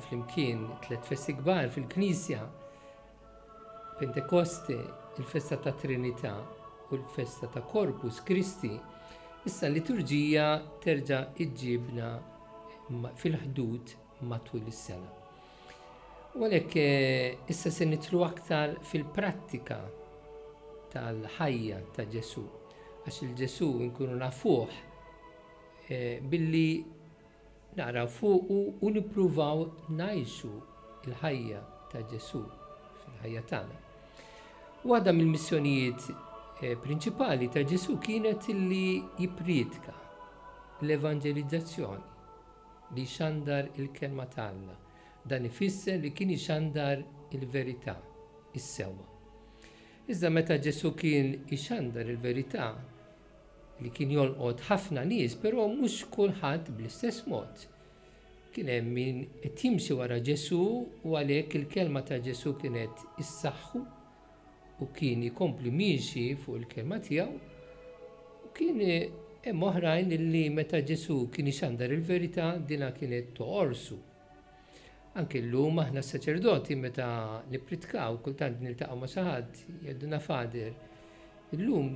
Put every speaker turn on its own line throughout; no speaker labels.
Flimkien tliet festi kbar fil-Knisja, Pentekoste, il-festa tat-Trinità u l-festa ta' Corpus Christi, issa l-liturġija terġa' ġġibna fil-ħdud matul is-sena. U għalhekk eh, issa se nitlu aktar fil-prattika tal-ħajja ta' Ġesu, għax il-Ġesu nkunu nafuh eh, billi Naqraw fuqu u nippruvaw ngħixu l-ħajja ta' Ġesù fil-ħajja tagħna. Waħda mill-missjonijiet eh, prinċipali ta' Ġesù kienet li jipprietka l-evanġelizzazzjoni li jxandar il-kelma ta' Alla. Dan ifisser li kien ixandar il-verità, is-sewwa. Iżda meta Ġesù kien ixandar il-verità, li kien jolqot ħafna nies, però mhux kulħadd bl-istess mod. Kien hemm min qed jimxi wara Ġesù u għalhekk il-kelma ta' Ġesù kienet issaħħu u kien ikompli miexi fuq il-kelma tiegħu, u kien hemm oħrajn li meta Ġesù kien ixandar il-verità dinha kienet toqorsu. Anki llum aħna s-saċerdoti meta nippritkaw kultant niltaqgħu ma' xi ħadd jgħiduna fader. Illum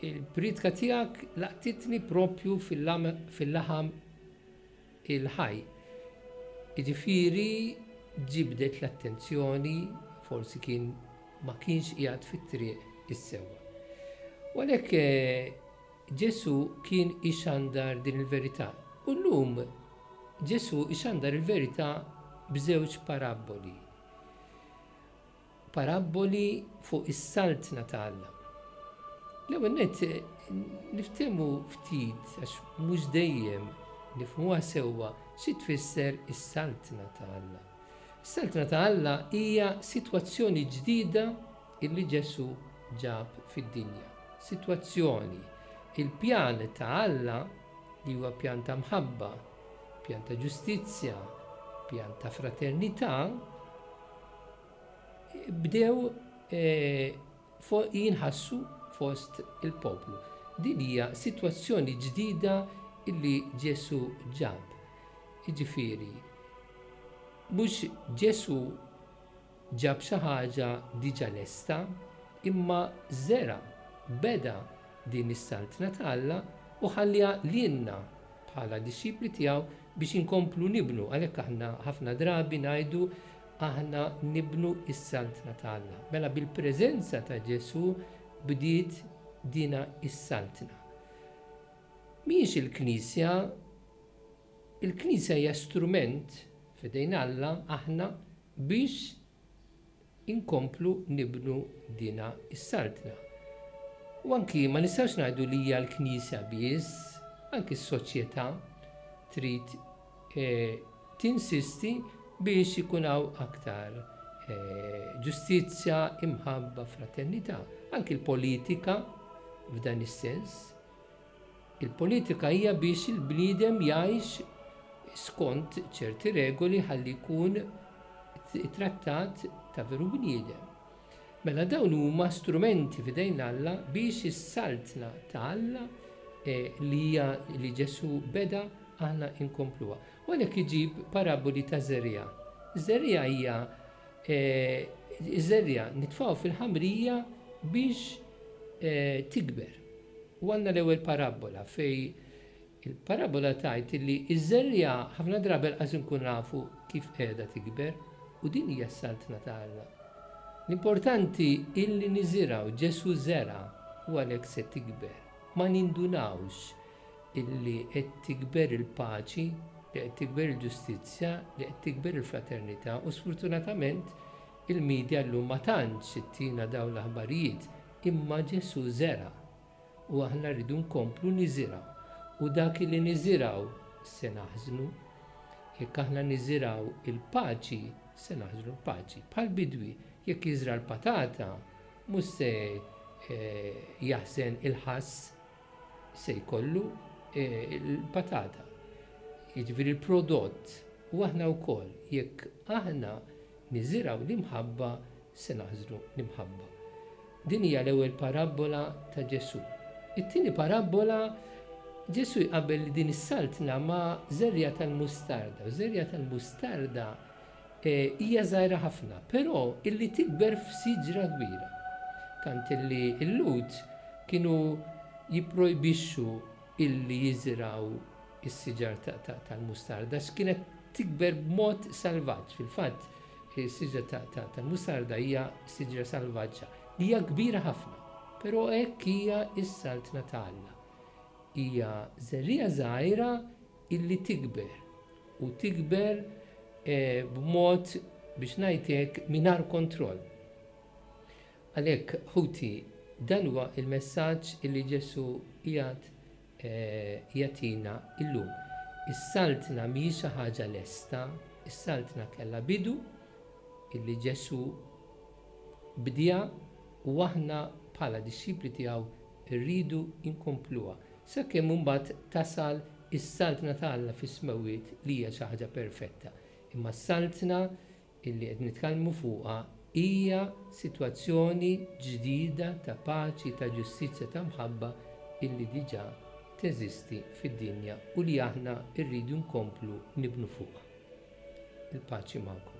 il-pritka tiegħek laqtitni propju fil-laħam il-ħaj. Jiġifieri ġibdet l-attenzjoni forsi kien ma kienx qiegħed fit-triq is-sewwa. Walek eh, Ġesù kien ixandar din il-verità. U llum Ġesù ixandar il-verità b'żewġ parabboli. Parabboli fuq is-Saltna ta' Alla. L-ewwel nett niftehmu ftit għax mhux dejjem nifhmuha sewwa xi tfisser is-Saltna ta' Alla. Is-Saltna ta' Alla hija sitwazzjoni ġdida Illi Ġesù ġab fid-dinja. Sitwazzjoni, Il-pjan ta' Alla, li huwa pjan ta' mħabba, pjan ta' ġustizzja, pjan ta' fraternità, bdew jinħassu fost il-poplu. Din hija sitwazzjoni ġdida illi Ġesù ġab. Jiġifieri, mhux Ġesù Ġab xi ħaġa diġà lesta, imma żera', beda, din is-Saltna ta' Alla u ħalliha lilna bħala dixxipli tiegħu biex inkomplu nibnu. Għalhekk aħna ħafna drabi ngħidu, Aħna nibnu s-Saltna ta' Alla. Mela bil-preżenza ta' Ġesù bdiet dina s-Saltna. Mhijiex il-Knisja, il-Knisja hija strument f'idejn Alla, aħna, biex inkomplu nibnu dina s-Saltna. U anki ma nistgħux ngħidu li hija l-Knisja biss, anki s-soċjetà trid tinsisti biex ikun hawn aktar ġustizzja, imħabba, fraternità. Anki l-politika f'dan is-sens. Il-politika hija biex il-bniedem jgħix skont ċerti regoli ħalli jkun ittrattat ta' veru bniedem. Mela dawn huma strumenti f'idejn Alla biex is-Saltna ta' Alla li hija li Ġesù beda aħna nkompluha. U għalhekk iġib paraboli ta' żerriegħa. Żerriegħa hija żerriegħa nitfgħu fil-ħamrija biex tikber. U għandna l-ewwel parabbola fejn il-parabbola tgħid illi ż-żerriegħa ħafna drabi lanqas inkunu nafu kif qiegħda tikber u din hija s-Saltna ta' Alla. L-importanti illi niżirgħu, Ġesù żera' u għalhekk se tikber. Ma nindunawx illi qed tikber il-paċi, li qed tikber il-ġustizzja, li qed tikber il-fraternità u sfurtunatament il-media llum ma tantx ittina dawn l-aħbarijiet. Imma Ġesù żera' u aħna rridu nkomplu niżirgħu. U dak li niżirgħu se naħżnu. Jekk aħna niżirgħu l-paċi, se naħżnu l-paċi. Bħal bidwi, jekk jiżra' l-patata, mhux se jaħżen il-ħass, se jkollu l-patata, jiġifieri l-prodott. U aħna wkoll, jekk aħna niżirgħu l-imħabba, Se naħsdu l-imħabba. Din hija l-ewwel parabbola ta' Ġesù. It-tieni parabbola, Ġesù jqabbel din is-saltna ma' żerriegħa tal-mustarda, u ż-żerriegħa tal-mustarda hija żgħira ħafna, però illi tikber f'siġra kbira. Tant illi l-Lhud kienu jipprojbixxu illi jiżrgħu s-siġar tal-mustarda għax kienet tikber b'mod salvaġġ. Fil-fatt, Is-siġra tal-mustarda hija siġra salvaġġa li hija kbira ħafna, però hekk hija s-Saltna ta' Alla. Hija żerriegħa żgħira illi tikber, u tikber b'mod, biex ngħid hekk, mingħajr kontroll. Għalhekk, ħuti, dan huwa l-messaġġ illi Ġesù qiegħed jagħtina llum. Is-Saltna mhijiex xi ħaġa lesta, is-Saltna kellha bidu illi Ġesù bdiha u aħna bħala dixxipli tiegħu rridu nkompluha, sakemm imbagħad tasal is-Saltna ta' Alla fis-smewwiet li hija xi ħaġa perfetta. Imma s-Saltna illi qed nitkellmu fuqha hija sitwazzjoni ġdida ta' paċi, ta' ġustizzja, ta' mħabba illi diġà teżisti fid-dinja u li aħna rridu nkomplu nibnu fuqha. Il-paċi magħkom.